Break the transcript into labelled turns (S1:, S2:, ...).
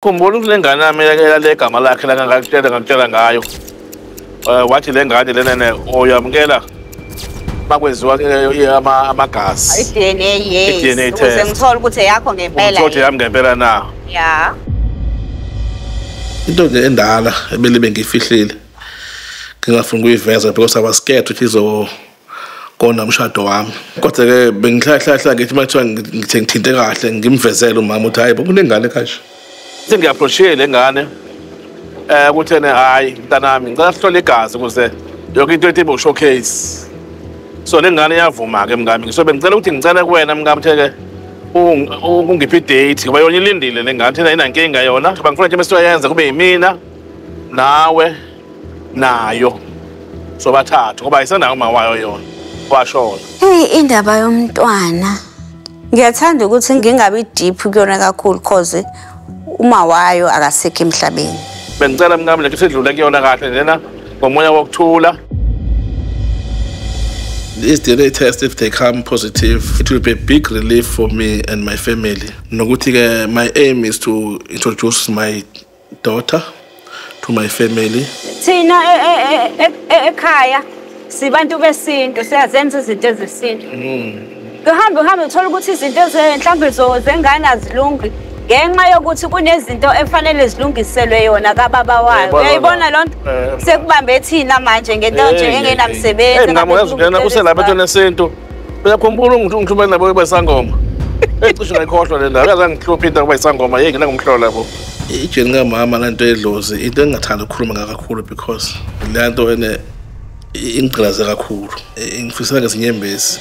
S1: Khumbula ukuthi le ngane yami yale gama lakhe la ngakutshela ngakutshela ngayo um wathi le ngane lenene oyamukela bakwenziwa amagazi i-dna yes i-dna
S2: test ngithola ukuthi eyakho ngempela ukuthi yami ngempela na
S1: ya
S3: into nje endala ebelibe ngiyifihlile ngingafuni ukuyiveza because i was scared ukuthi izo kona umshado wami kodwa ke bengihlahlahla ngithi mathiwa ngithe ngithinte kahle ngimvezele umama ukuthi hayi kunengane kashe sengiyaphroshile
S1: le ngane eh kuthene hayi mntanami ngicela sihlole igazi ukuze yonke into ethi showcase so le ngane iyavuma ke mngami ngisobe ngicela ukuthi ngicela kuwena mngami theke ungiphi idate ngoba yona ilindile le ngane thina inankinga yona ngifuna nje mesiyoyenza kube yimina nawe nayo sobathathu ngoba ayisanayo uma wayo yona kwashona hey indaba
S2: yomntwana ngiyathanda ukuthi ngingabi deep kuyona kakhulu cause uma wayo akasekho emhlabeni bengicela mnami
S1: lento sidlule kuyona kahle lena ngomoya wokuthula
S3: This DNA test, if they come positive, it will be a big relief for me and my family. Nokuti, my aim is to introduce my daughter to my family thina e,
S2: e, e, ekhaya sibantu besintu siyazenza izinto ezesintu hmm. kuhambe uhambe uthola ukuthi izinto mhlawumbe zengane azilungi ngenxa yokuthi kunezinto efanele zilungiselwe yona kababa wayo uyayibona loo nto eh, eh. sekubambe thina manje ngento nje engenamsebenzi ngamuyazi ungena uselapha
S1: etweni esintu uyakhumbula ungithumela nabo ukuba isangoma ecishe ngayikhohlwa le ndaba yaze ngihlupha into yokuba isangoma yeke nangumhlola bo ijeni kamama
S3: le nto edlozi into engingathanda ukukhuluma ngakakhulu because le nto ene ingigqilaze kakhulu ngifisela ngezinyembezi